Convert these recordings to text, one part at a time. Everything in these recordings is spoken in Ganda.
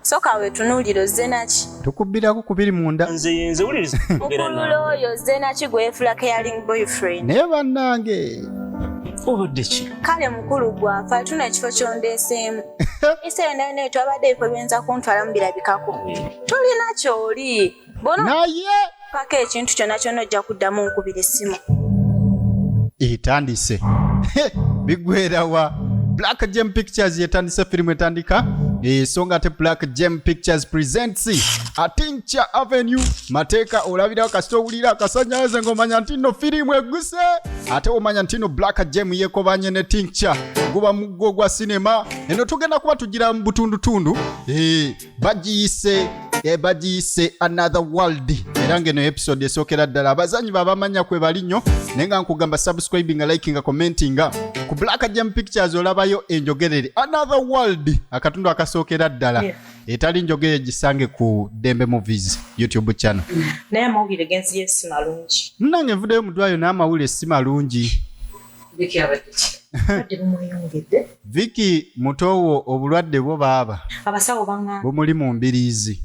Soka wetunuulire ozze naki? Tukubbirako ku biri munda. Nze yenze wuliriza. Mukulu oyo ozze naki gwefula caring boyfriend. Naye bannange. Obadde ki? Kale mukulu gwafa tuna ekifo kyondeeseemu. Ese yonna yonna etwabadde ebifo byenza kuntwala mu birabikako. Tolina kyoli. naye paka ekintu kyona kyona ojja kuddamu nkubira essimu etandise bigwerawa black gem pictures yetandise firimu etandika so nga ate black gem pictures presents atinca avenue mateeka olabirawo kasita owulira akasanyaze ngaomanya nti no firimu eguse ate omanya nti no black gem yekobanye ne tinca guba muggo gwa sinema eno tugenda kuba tugira mu butundutundu bagiyise eh, bagiyise another world era ngeno episode esookera ddala abazanyi babamanya kwe bali nnyo naye nga nkugamba subscribinga likinga commentinga ku black jam pictures olabayo enjogerere another world akatundu akasookera ddala yeah. etali njogere gisange ku dembe movies youtube channel naye amawulire genziyo si malungi nange nvudeyo mudwayo naye amawulire si malungi viki mutowo obulwadde bwo baaba bumuli mu mbiriizi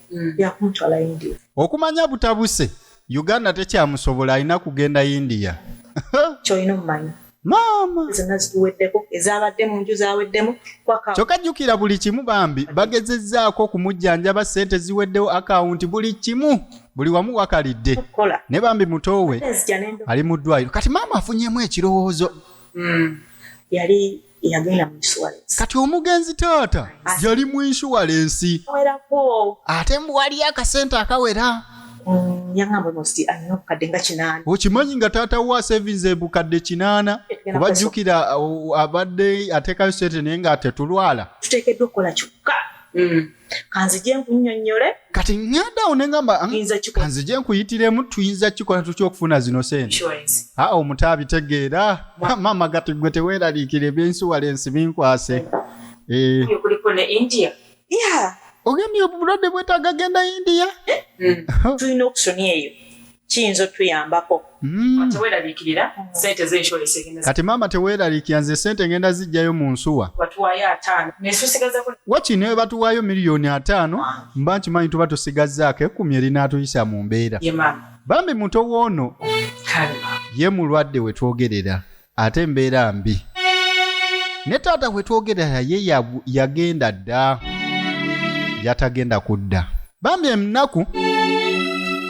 hmm. okumanya butabuse uganda tekyamusobola alina kugenda india kyolina omumanya maama zonna zituweddeko ezabadde mu nju zaweddemu kyokka jjukira buli kimu bambi bagezezzaako okumujjanjaba ssente ziweddewo akawunti buli kimu buli wamu wakalidde naye bambi mutoowe ali mu ddwaliro kati maama afunyemu ekirowoozo mm. yali yagenda mu insurance kati omugenzi taata yali mu insurance werako ate mbu waliyo akasente akawera mm, yangamba nosti alina obukadde nga kinaana okimanyi nga taata wa savings ebukadde kinaana kuba jjukira abadde ateekayo sente naye nga tetulwala tuteekeddwa okukola kyokka mm. kanzije nkunyonyole kati ngenda awo nengamba kanzije nkuyitiremu tuyinza kikola tutya okufuna zino sente aa omuto abitegeera maama gati gwe teweeraliikira ebyensuwala ensi binkwase eh. kuliko ne india ogambye obulwadde bwetaaga genda india eh? hmm. tulina okusoni eyo kiyinza otuyambako hmm. kati maama teweraliikira nze sente ngenda zijjayo mu nsuwa waki ne batuwaayo miliyoni ataano mba nkimanyi tuba tusigazzaako ekkumi erinaatuyisa mu mbeera bambi muto woono ye mulwadde wetwogerera ate mbeera mbi ne taata hwe twogerera ye yagenda dda yatagenda kudda bambi enaku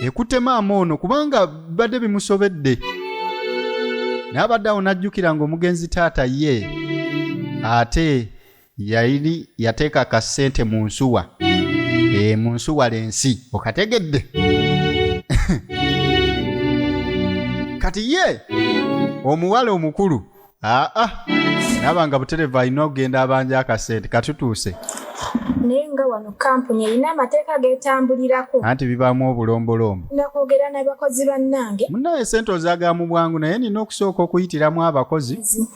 ekutte maama ono kubanga bibadde bimusobedde naye abadde awo n'ajjukira ng'omugenzi taata ye ate yali yateeka ka ssente mu nsuwa e, mu nsuwa lensi okategedde kati ye omuwala omukulu aa ah, naba ah. nga butereva alina okugenda abanja akasente katutuuse naye nga wano kampuni erina amateeka getambulirako anti bibaamu obulombolombo nakwogera nabakozi bannange munaye sente ozagala mu bwangu naye nina okusooka okuyitiramu abakozi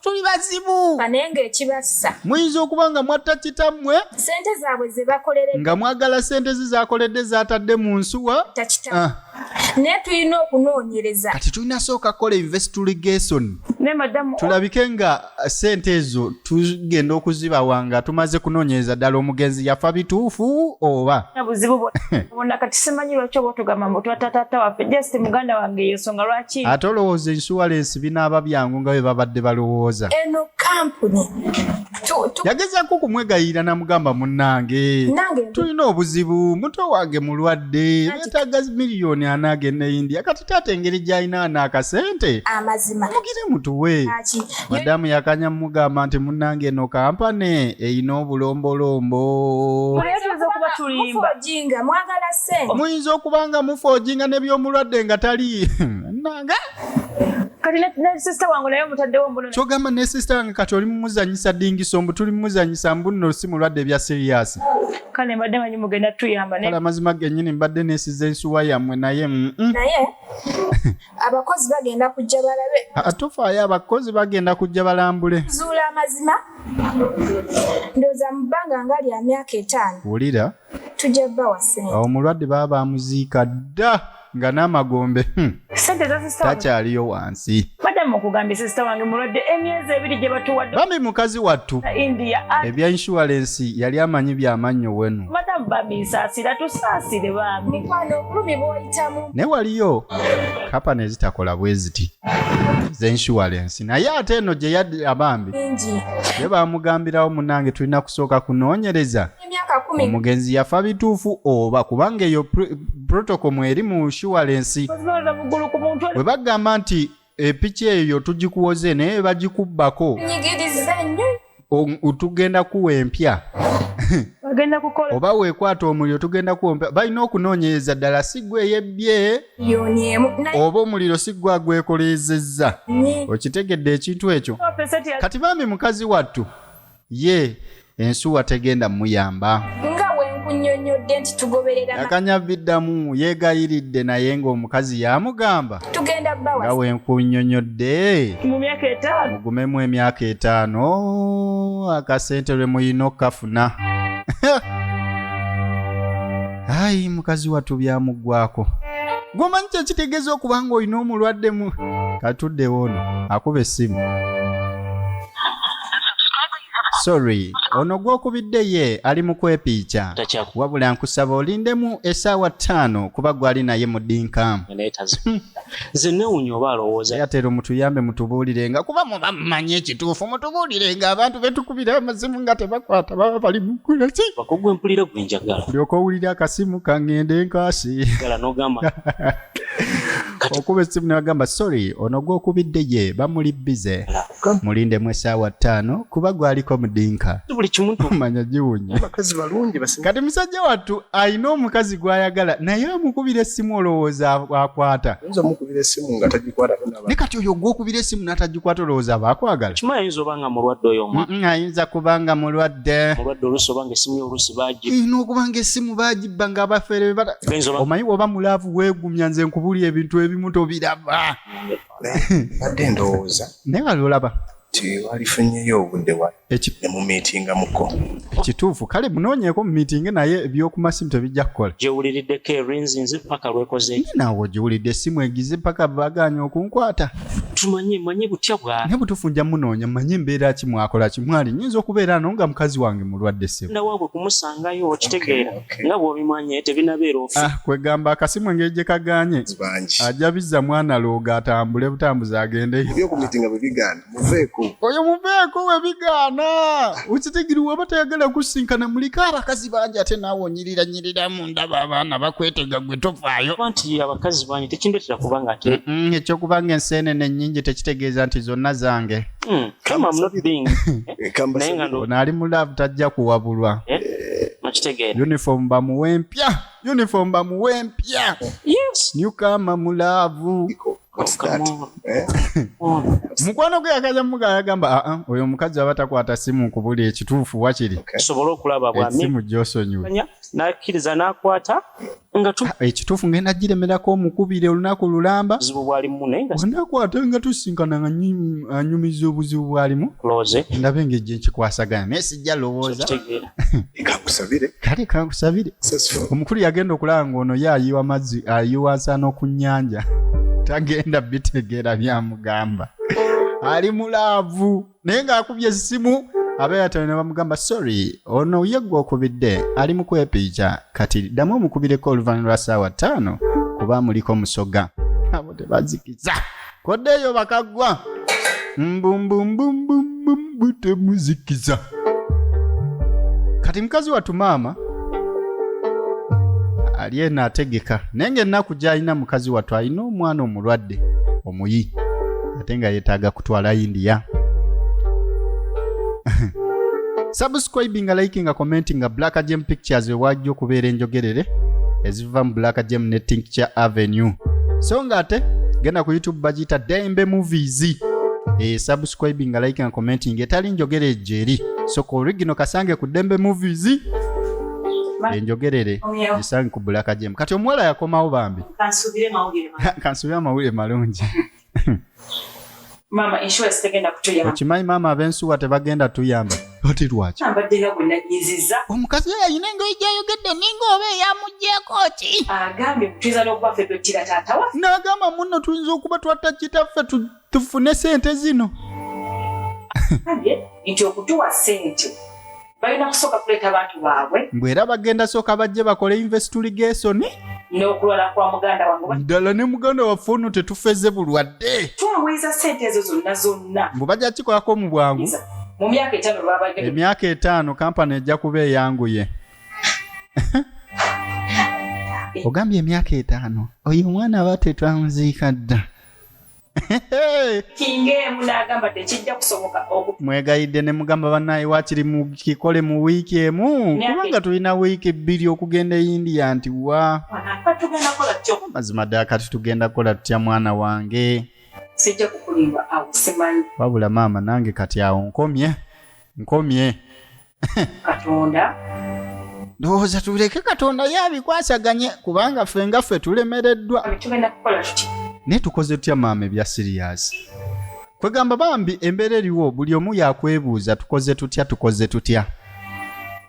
tuli bazibu bane ng'ekibassa muyinza okuba nga mwatta kitammwe ssente zaabwe ze bakolere nga mwagala ssente ze zakoledde zaatadde mu nsuwa takita ah. naye tulina okunoonyereza kati tulina sooka kukola investigation tulabike nga uh, ssente ezo tugenda okuzibawa nga tumaze kunoonyereza ddala omugenzi yafa bituufu oba ate olowooza ensuwalensi tibinaaba byangu nga bwe babadde balowooza. Eno kampuni yagezaako okumwegayirira namugamba munnange tulina obuzibu muto wange mulwadde betaaga miliyoni ana agenda e india kati taata engeri gy'alina ana akasente mugire mutuwe madamu yakanya mumugamba nti munnange eno kampane erina obulombolombo muyinza okuba nga mufoojinga nebyomulwadde nga tali nange kati ne sister wange naye omutaddewo mbuno kyogamba ne sister wange kati oli mumuzanyisa dingiso mbu tuli mumuzanyisa mbunno si mulwadde ebya siriyasi kale mbadde manyi mugenda tuyamba kale amazima genyini mbadde nesiza ensuwa yammwe naye naye abakozi bagenda kujja balabe atufaayo abakozi bagenda kujja balambule zuula amazima ndooza mu bbanga nga lya myaka etaano wulira tujja bawa sente awo mulwadde baba bamuziika dda nga n'amagombe hmm. sente takyaliyo wansi madamu okugambye sisita wange mulwadde emyezi ebiri gye batuwadde bambi mukazi wattu india ebya inshuwalensi yali amanyi byamannyo wenu madamu bamisaasira tusaasire bambi mukwano obulumi bwoyitamu naye waliyo kapa nezitakola bwe ziti zenshuwalensi naye ate eno gye yadde abambi ye bamugambirawo munange tulina kusooka kunoonyereza omugenzi yafa bituufu oba kubanga eyo protocol mweri mu shuwalensi bwe bagamba nti epiki eyo tugikuwoze naye bagikubbako tugenda kuwa empya oba wekwata omuliro tugenda kuwa empya balina okunoonyereza ddala siggwa eyebbye oba omuliro siggwa agwekoleezezza okitegedde ekintu ekyo kati bambi mukazi wattu ye ensuwa tegenda muyamba nga bwe nkunyonyodde nti tugoberera yakanya biddamu yeegayiridde naye ng'omukazi yamugamba tugenda bawa nga bwe nkunyonyodde mu myaka etaano mugumemu emyaka etaano akasente lwe muyina okukafuna ayi mukazi wattu byamuggwako gwomanyi kyekitegeeza okuba ng'olina omulwadde mu katuddewo ono akuba essimu sorry ono gwokubidde ye ali mu kwepiica wabula nkusaba olindemu esaawa ttaano kuba gwali naye mudinka zenewunyobaalowoozaatero mutuyambe mutubuulirenga kuba muba mumanyi ekituufu mutubuulirenga abantu betukubira amazimu nga tebakwata baba bali mukulaki bakugwe mpulira gwe njagala lyoka owulira akasimu kangende nkaasi gala nogamba okuba essimu newagamba sorry ono gwokubidde ye bamuli bize mulindemu esaawa ttaano kuba gwaliko mudinka manya giwunya kati musajja wattu alina omukazi gwayagala naye amukubira essimu olowooza akwata ne kati oyo gwokubira essimu natagikwata olowooza aba akwagala ayinza kuba nga mulwadde ina okuba nga essimu bagibba nga abafere omanyi woba mulaavu wegumya nze nkubuli ebintu ebimu tobiraba badde ndowooza naye wali olaba tewalifunyeyo obudde wa nemumiitingamuko ekituufu kale munoonyeeko mumiitinge naye ebyokumasimu tebijja kukola gyewuliriddeko erinzi nze paka lwekozeeki nawe ogiwulidde essimu egize paka bagaanya okunkwata tumanyi manyi butya bwa naye butuufu nja munoonya manyi embeera ki mwakola ki mwali nyinza okubeera no nga mukazi wange mulwadde ssebo nawaabwe kumusangayo okitegeera nga bwobimanye tebinabeera ofi ah, kwegamba akasimu engeri gye kaganye ajja bizza mwana looga atambule butambuzi agendeyokumitinga bwebigaana muveeko oyo muveeko webigaana okitegiri waba tayagala kusinkana muliko abakazi bangi ate naawe onyirira nyirira mu ndaba abaana bakwetega gwe tofaayo nti abakazi bangi tekindetera kubanga ate ekyokubanga enseenene ennyingi tekitegeeza nti zonna zange mm. naali mu love tajja kuwabulwa eh? Eh, uniform bamuwe mpya uniform bamuwe mpya newkama mu laavu Eh? mukwano gwe yakaja muga yagamba aa ah, ah, oyo omukazi aba takwata simu kubuli ekituufu wakiri tusobole okulaba bwasimu gyosonyiwe nakkiriza nakwata nga tu ah, ekituufu ngenda giremerako omukubire olunaku lulamba buzibu bwalimu olunaku ate nga tusisinkana nga anyumiza obuzibu bwalimu ndabe nga ejje nkikwasagana naye sijja lowooza kankusabire kale kankusabire omukulu yagenda okulaba ng'ono ye ayiwa mazzi ayiwa nsaano ku nnyanja tagenda bitegeera byamugamba ali mu laavu naye ng'akubye essimu abeeyatale ne bamugamba sorry ono ye gwe okubidde ali mu kwepiija kati ddamu omukubireko oluvannyuma lwa ssaawa ttaano kuba muliko musoga abo tebazikiza koddeeyo bakaggwa mbumbumbumbumbumbu temuzikiza kati mukazi wattu maama ali eno ategeka naye ng'ennaku gy'alina mukazi wattu alina omwana omulwadde omuyi ate nga yetaaga kutwala india subscribing nga liking nga commenting nga black gem pictures wewajja okubeera enjogerere eziva mu black gem ne tincture avenue so nga ate genda ku youtube bagiyita dembe movies e subscribing nga liking nga commenting etali njogera ejo eri so ku original kasange ku dembe movies enjogerere gisange ku black gem kati omuwala yakomawo bambi kansubire amawulire malungi maama insurance tegenda kutuyamba okimanyi maama abensuwa tebagenda tuyamba oti lwaki ambadde nga gwe nanyiziza omukazi oyo alina engoyi gyayogedde ninga oba eyamugyeko ki agambye tuyinza n'okuba ffe twettira taata waffe n'agamba munno tuyinza okuba twatta kitaffe tufune sente zino nti okutuwa sente balina kusooka kuleeta abantu baabwe mbu era bagenda sooka bajje bakole investiligation n'okulwala kwa muganda wange ddala ne muganda waffe ono tetufeze bulwadde twaweeza sente ezo zonna zonna mbu bajja kikolako mu bwangu mu myaka etaano lwaba emyaka etaano kampani ejja kuba eyanguye ogambye emyaka etaano oyo omwana aba tetwamuziika dda kinga emu n'agamba tekijja kusoboka mwegayidde ne mugamba bannaye wakiri mukikole mu wiiki emu kubanga tulina wiiki bbiri okugenda e india nti wa mazima ddala kati tugenda kukola tutya mwana wange wabula maama nange kati awo nkomye nkomye katonda ndowooza tuleke katonda ye abikwasaganye kubanga ffe nga ffe tulemereddwa tugenda kukola tuti naye tukoze tutya maama ebya siriyasi kwegamba bambi embeera eriwo buli omu yakwebuuza tukoze tutya tukoze tutya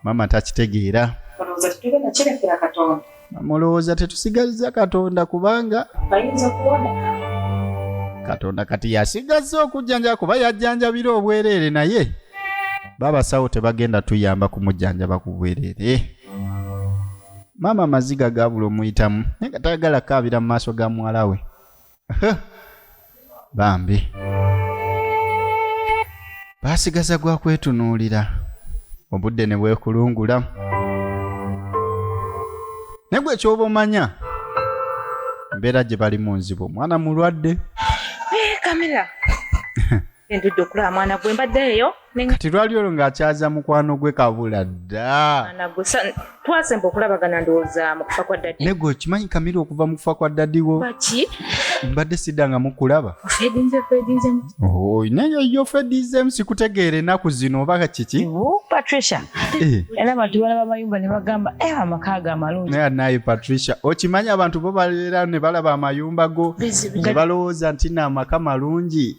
maama takitegeera olowooza tetugenda kirekera katonda mulowooza tetusigazza katonda kubanga bayinza okuwoneka katonda kati yasigazza okujjanjaba kuba yajjanjabira obwereere naye babasawo tebagenda tuyamba kumujjanjaba ku bwereere maama amaziga gabula omuyitamu naye nga tayagala kaabira mu maaso ga muwala we bambi baasigaza gwa kwetunuulira obudde ne bwekulungula naye gwe kyoba omanya embeera gye balimu nzibu omwana mulwadde eh, kamera Endudde okulaba mwana gwe mbadde eyo. Kati lwali olwo ng'akyaza mukwano gwe kabula dda. Mwana gwe twasemba okulabagana ndowooza mu kufa kwa dadi. Nego okimanyi Kamira okuva mu kufa kwa dadi wo. Baki? Mbadde sidda nga mukulaba. Ofedinze ofedinze. Oh, naye yo ofedinze sikutegeera enaku zino oba kiki? Oh, Patricia. Eh. Era abantu balaba amayumba ne bagamba eh amaka ga malungi. Naye naye Patricia okimanyi abantu bo balera ne balaba amayumba go ne balowooza nti na amaka malungi.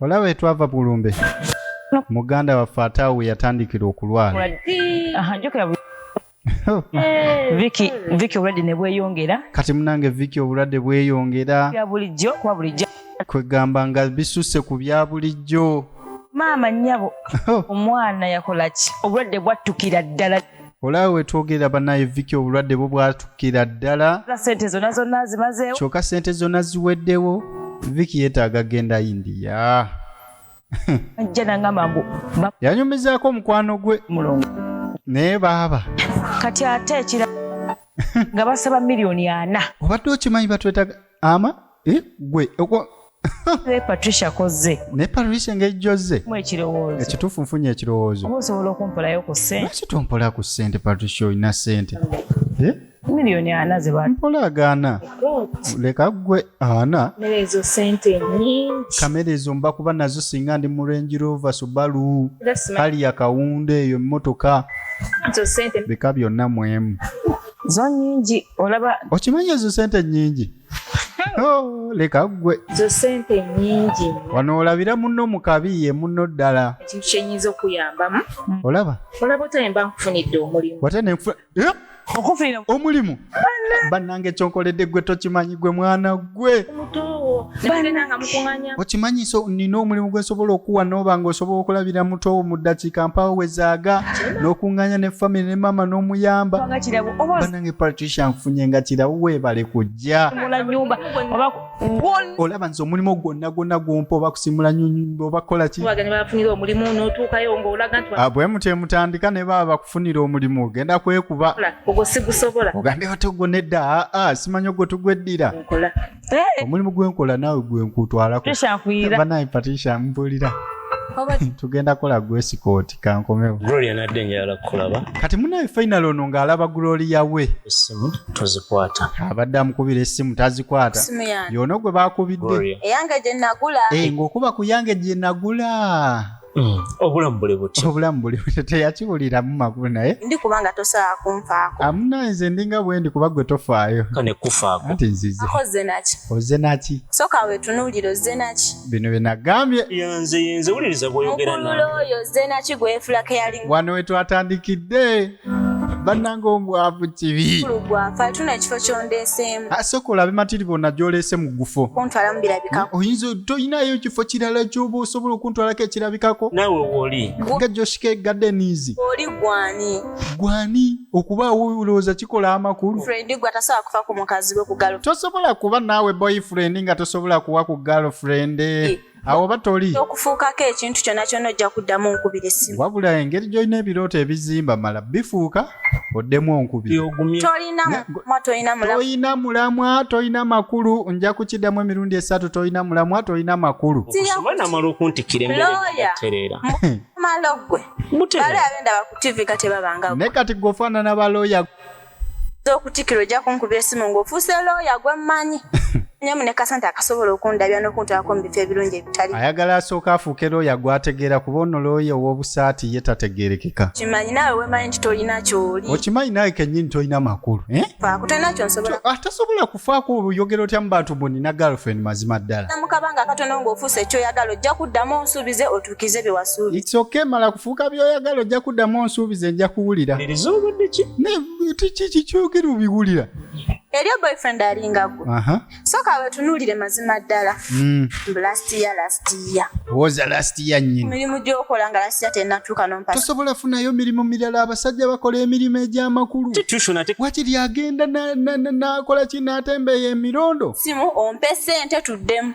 olaba etwava bulumbe muganda waffe ate awo we yatandikira okulwala viki viki obulwadde ne bweyongera kati munange viki obulwadde bweyongera bya bulijjo kuba bulijjo kwegamba nga bisusse ku bya bulijjo maama nnyabo omwana yakola ki obulwadde bwattukira ddala olaba wetwogerera banaye viki obulwadde bwo bwatukira ddala sente zona zonna zimazeewo kyoka sente zona ziweddewo viki yetaaga genda india ajja nangamba mbu ba- yanyumizaako omukwano gwe mulongo naye baaba kati ate ekira nga basaba miliyoni ana obadde okimanyi batwetaga ama eh, gwe ne patricia kozze ne patricia ngejjozze mu ekirowoozo ekituufu nfunye ekirowoozo oba osobola okumpolayo ku ssente lwaki tompola ku ssente patricia olina ssente eh? miliyoni ana zebampola agaana leka gwe ana ezo sente nyingi kamera ezo mba kuba nazo singa ndi mu range rover subaru hali ya kawunda eyo emmotoka bika byonna mwemu zo nyingi olaba okimanyi ezo sente nyingi oh, leka ggwe zo sente nyingi wano olabira munno mu kabi ye munno ddala ekintu kyenyinza okuyambamu olaba olaba otaye mba nkufunidde omulimu wate nenfuna eh? okufunira omulimu bannange kyonkoledde ggwe tokimanyi gwe mwana gwe okimanyi so nina omulimu gwe nsobola okuwa nooba nga osobola okulabira mutoowo mu ddakiika mpaawo wezaaga n'okuŋŋanya ne famiry ne maama n'omuyamba banange patricia nfunye nga kirawo weebale kujja olaba nze omulimu gwonna gwonna gwompa oba kusimula nyumba oba kukola ki ah, bwe mutye mutandika ne baba bakufunira omulimu ogenda kwekuba ogambye batogwo nedda aa ah, ah, simanyi ogwo tugweddira eh! omulimu gwenkola naawe gwenkutwalakobanaaye patricia mbulira tugenda kola gwesikooti kankomewo gloria nadde njagala kukulaba kati munaye final ono ng'alaba gloria we essimu tozikwata abadde amukubira essimu tazikwata yono gwe bakubidde eyange gye nagula eh, ng'okuba ku yange gye nagula Mm. obulamu buli butyo obulamu buli butyo teyakiwuliramu makulu naye ndi kubanga tosobola kunfaako amuna nze ndinga bwendi kuba gwe tofaayo kane kufaako anti nzize oze naki oze naki soka wetunuulira oze naki bino bye nagambye yanze yenze wuliriza bwoyogera naye oyo oze naki gwefula keyaling wano wetwatandikidde bannanga omwavu kibi lugwafa tuna ekifo kyondeeseemu asooka olabe matiri bonna gyoleese mu gufo kuntwala mu birabikako oyinza tolinayo ekifo kirala kyoba osobola okuntwalako ekirabikako naawe woli nga joshike gadenizi oli gwani gwani okubaawo olowooza kikola amakulu fredi gwe atasobola kufa ku mukazi we kugalo tosobola kuba naawe boyfriend nga tosobola kuwa ku girlfriend awo oba toli okufuukako ekintu kyonna kyonna ojja kuddamu onkubira essimu wabula engeri gy'olina ebirooto ebizimba mala bifuuka oddemu onkubirtolina mulamwa tolina makulu nja kukiddamu emirundi esatu tolina mulamwa tolina makulu namala okuntikira emberetereera ne kati gwofaanana balooya okutikira ojja kunkuba esimu ng'ofuuse looya gwe mmanyi nyemu ne kasente akasobola okundabya n'okuntwalako mu bifo ebirungi ebitali ayagala asooka afuuke looya gwategeera kuba ono looya ow'obusaati ye tategeerekeka kimanyi naawe wemanyi nti tolina kyoli okimanyi naawe kennyini tolina makulu eh? faako tolina kyonsobola ah, tasobola kufaako oyogera otya mu bantu bunina girlfriend mazima ddala namukabanga akatono ng'ofuuse ekyoyagala ojja kuddamu onsuubize otu tukize byewasuubi it's okay mala kufuuka byoyagala ojja kuddamu onsuubiza enja kuwulira kiki kikyogera obiwulira eriyo boyfriend alinga gwe soka wetunuulire mazima ddala hmm. mirimu gyokola nga lasiya tenatuuka nompatosobola funayo mirimu mirala abasajja bakola emirimu egyamakulu wakiri agenda nakola ki natembeeyo emirondo simu ompe sente tuddemu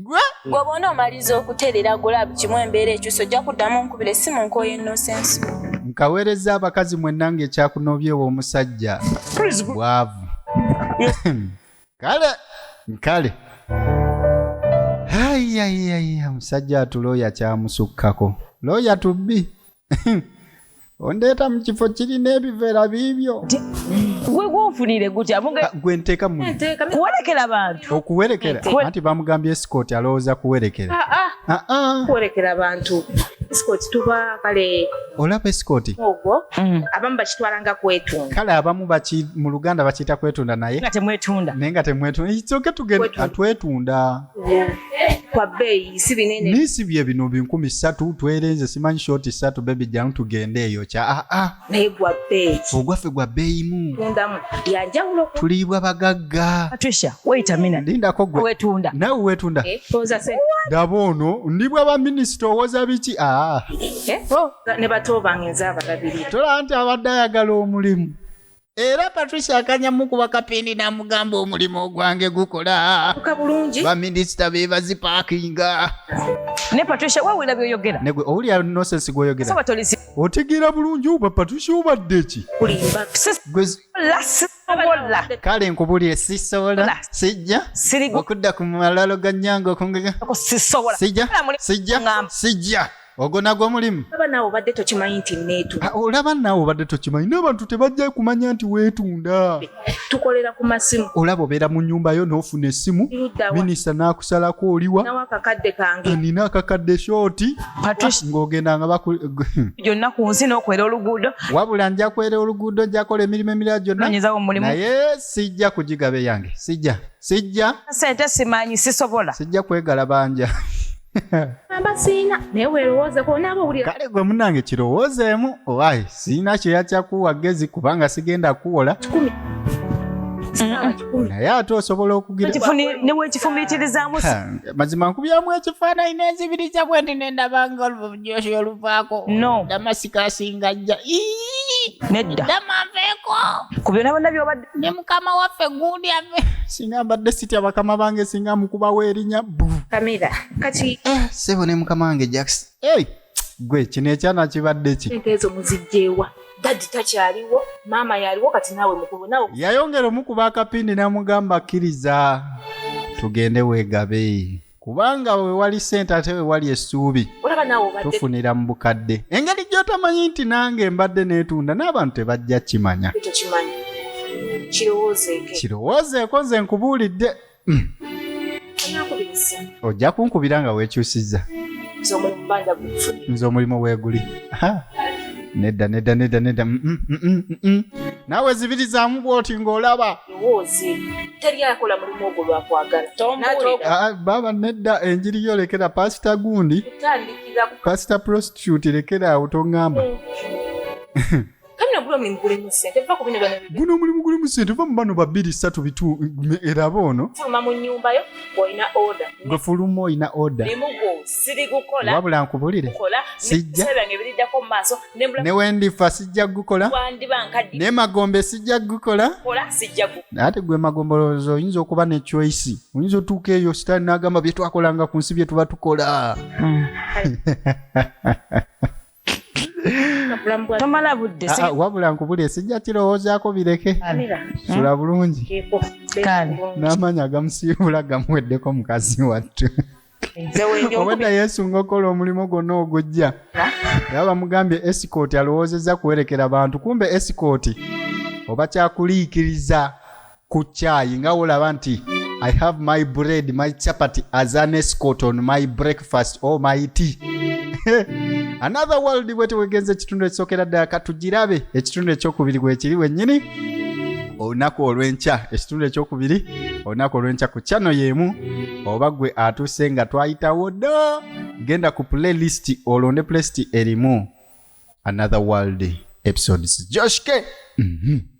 gwe bw'oba onoomaliza okutereera gulabu kimu embeera ekyusa ojja kuddamu nkubire si mu nkooyo enosensi nkaweereza abakazi mwenna ng'ekyakunoobyewo omusajja bwavu kale nkale ayayaya omusajja atulooya kyamusukkako looya tubbi ondeeta mu kifo kirina ebiveera biibyo gwe gwonfunire gutya muge Ah, gwe nteeka mu Nteeka mi- kuwerekera bantu okuwerekera Kuwe- anti bamugambye esikooti alowooza kuwerekera Ah, ah, Ah, ah, kuwerekera abantu escort tuba kale olaba esikooti ogwo Mm. abamu bakitwala nga kwetunga kale abamu baki- mu luganda bakiyita kwetunda naye nga temwetunda naye nga temwetunda ekyoke tugenda Kwetunda. twetunda kwa bbeeyi si binene naye si bye bino binkumi ssatu twerenze simanyi shoti ssatu bebi jjamu tugende eyo kya aa ah, ah. naye gwa bbeeyi ogwaffe gwa bbeeyimu tundamu yanjawulo tuliibwa bagagga patricia weyita mina lindako gwe wetunda nawe wetunda eh, daba ono ndi bwa baminisita owoza biki aa ah. eh, oh. ne bato bange nze abalabirira tolaba nti abadde ayagala omulimu era patricia akanyamu kuba kapindi n'amugamba omulimu ogwange gukola tuka bulungi baminisita be bazipaakinga ne patricia wawulira byoyogera negwe owulira nosensi gwoyogera soba tolisi otegeera bulungi oba patricia obadde ki kulimba Gwe zi- sisobola sisobola kale nkubulire sisobola Ola. sijja Sirigu- okudda ku malalo ga nyanga okungega ko sisobola sijja Kola mulimu sijja ngamba. sijja ogwo nagwo mulimu olaba naawe obadde tokimanyi nti neetunda ah, olaba naawe obadde tokimanyi n'abantu tebajja kumanya nti weetunda tukolera ku masimu olaba obeera mu nyumba yo n'ofuna essimu minisita n'akusalako oliwa akakadde kange nina akakadde shooti ng'ogenda nga gyonna ku nsi n'okwera oluguudo wabula nja kwera oluguudo njakola emirimu emirala gyonna naye sijja kugigabe yange sijja sijja sente simanyi sisobola sijja kwegala banja siina naye weerowoozeko onaaba owulira kale gwe munange kirowoozeemu owaye siina kyeya kyakuwa gezi kubanga sigenda kuwola kikumi naye ate osobola okugiranewekifumiitirizaamu mazima nkubyamu ekifaananyi nenzibiriza bwe nti nendabanga olujosi oluvaako damasika asinga jja nedda damanveeko ku byona bona byobadde ne mukama waffe gundi ave singa mbadde sitya bakama bange singa mukubawo erinya bu kamera kati eh, sebo ne mukama wange jaks hey, gwe kino ekyana kibadde ki ente ezo muzijjeewa dadi takyaliwo maama yaliwo kati naawe mukulu nawe yayongera omukuba akapindi namugamba kkiriza tugende wegabe kubanga wewali sente ate wewali essuubi tufunira mu bukadde engeri gyotamanyi nti nange mbadde neetunda n'abantu tebajja kimanya kirowoozeeko nze nkubuulidde ojja kunkubira nga weekyusizza nze omulimu weeguli nedda nedda nedda nedda mm, mm, mm, naawe zibirizaamu bwoti ng'olaba lowooze teri akola mulimu ogwo lwakwagala ah, baaba nedda enjiri yo lekera pasita gundi pasita prostitute lekera awo tongamba hmm. guno omulimu guli mu sente va mu bano babiri satu bitu eraba ono gwe fuluma olina oda wabula nkubulire sijja ne wendifa sijja kugukola naye magombe sijja kugukola naye ate gwe magombe olowooza oyinza okuba ne choice oyinza otuuka eyo sitaani n'agamba bye twakolanga ku nsi bye tuba tukola hmm. tomala budde ah, ah, wabula nkubule sijja kirowoozaako bireke sula bulungi n'amaanyi agamusiibula gamuweddeko mukazi wattu obwedda yesu ngaokola omulimu gwonna ogujja era bamugambye esikooti alowoozezza kuwerekera bantu kumbe esikooti oba kyakuliikiriza ku kyayi nga wolaba nti i have my bread my chapati as an escort on my breakfast or oh my tea another world bwe tewegenza ekitundu ekisookera ddala katugirabe ekitundu ekyokubiri gwekiri wennyini olunaku olw'enkya ekitundu ekyokubiri olunaku olw'enkya ku kyano y'emu oba gwe atuse nga twayitawo dda genda ku playlist olonde playlist erimu another world episodes joshke mm -hmm.